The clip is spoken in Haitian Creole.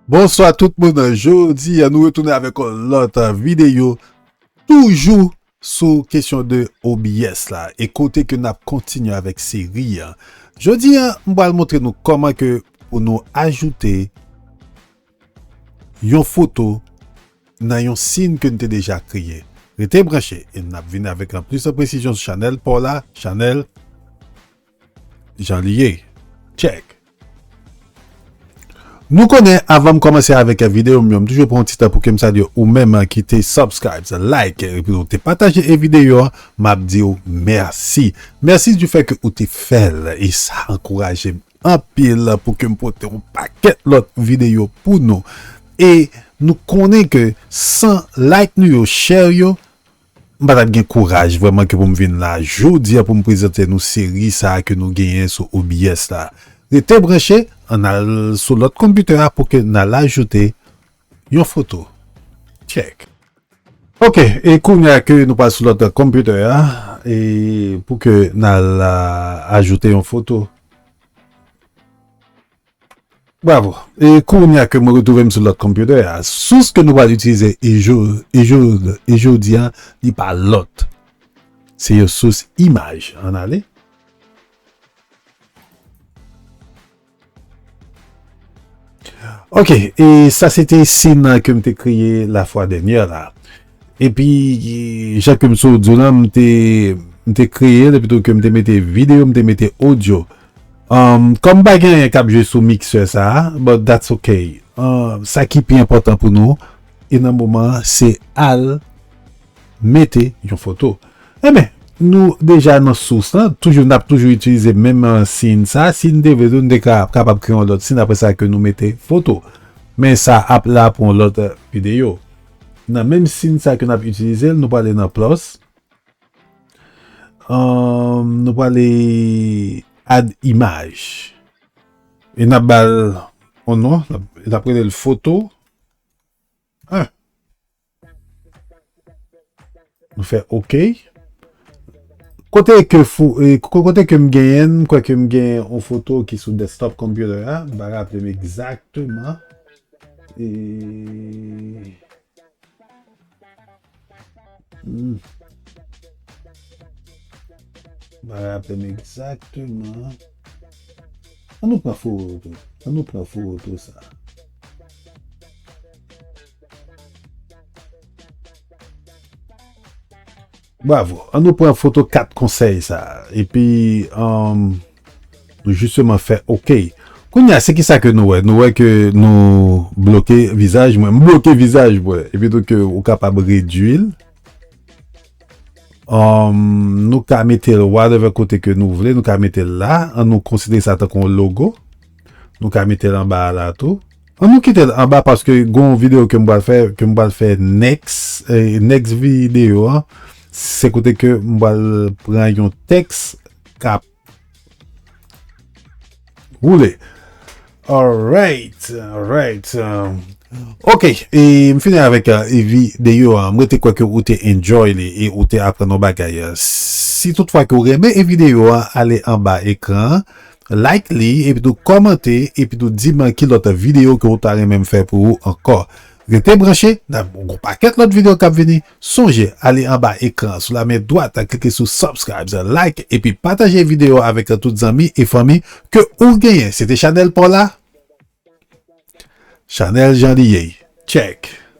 Bonswa tout moun, jodi nou retounen avèk yon lòt videyo toujou sou kesyon de OBS la e kote ke nap kontinye avèk seri an. Jodi an, m pral montre nou kòman ke pou nou ajoute Yon foto nan yon sin ke n te deja kreye. Rete branche e n ap vini avèk lan plis presizyon sou chanèl pa w la, chanèl Jan li ye Tchèk! Nou konnen avan m kòmanse avèk videyo m yo, m toujou pran yon ti tan pou ke m salye ou menm ki te subscribes, like epi ou te pataje e videyo an, m ap di w mèsi. Mèsi di fè ke ou te fè l e sa ankouraje m anpil pou kem pote yon pakèt lòt videyo pou nou e nou konnen ke san like nou yo chè yo m pa tap gen kouraj vrèman ke pou m vin la jodia pou m prezante nou seri sa ke nou genyen sou OBS la rete branche an al sou lòt konpitè a pou ke n al ajoute Yon foto. Tchèk. Ok, e kounya ke nou pral sou lòt computer a, e pou ke nal ajoute yon foto. Bravo. E kounya ke mwen retwouvem sou lòt computer a, sous ke nou pral itilize e jodi a, li pa lòt, se yon sous imaj. Ann ale. Ok, e sa se te sin ke m te kreye la fwa dènyè la. E pi, jan ke m sot di w lan, m te, m te kreye l, epi tou ke m te mete videyo, m te mete odyo. Kòm pa gen anyen k ap jwe sou miksè sa a, but that's ok. Sa ki pi enpòtan pou nou, e nan moman an, se al. Mete yon foto. Enben, nou deja nan sous lan, toujou n ap toujou itilize menm siyn sa. Si n te vle tou, n te ka kapab kreye yon lòt siyn apre sa ke nou mete foto. Men sa ap la pou yon lòt videyo. Nan menm siyn sa ke n ap itilize l, nou prale nan Plus. Nou prale Add Image. E n ap ba l yon non. N ap rele l Foto 1. Nou fè ok. Kote ke fou, kote ke m genyen, m kwè ke m genyen yon foto ki sou desktop computer a, m pa raple m egzakteman. E... M pa raple m egzakteman. An nou pran foto, an nou pran foto sa. Bravo, an nou pran foto 4 konsèy sa, epi um, nou jisteman fè ok. Kounya se ki sa ke nou wè? Nou wè ke nou bloke vizaj mwen, m bloke vizaj mwen, epi tou ke ou kapab redwil. Um, nou ka mete l whatever kote ke nou vle, nou ka mete l la, an nou konsidere sa tankou yon logo. Nou ka mete l anba a la tou. An nou kitel anba paske gon video kem pral fè kem pral fè next next video an se kote ke m pral pran yon teks kap woule alright alright ok e m fini avek video an m rete kwè ke ou te enjoy li e ou te aprann yon bagay si tout fwa ke ou renmen e video an ale anba ekran an Like li epi tou kòmante epi tou di m ki lòt videyo ke ou ta renmen m fè pou ou ankò. Rete branche, nan gon pakèt lòt videyo kap vini. Sonje ale anba ekran an sou la men dwat klike sou subscribes, like epi pataje videyo avèk tout zanmi e fanmi ke ou genyen. Se te chanèl pa w la, chanèl Janliyey. Tchèk!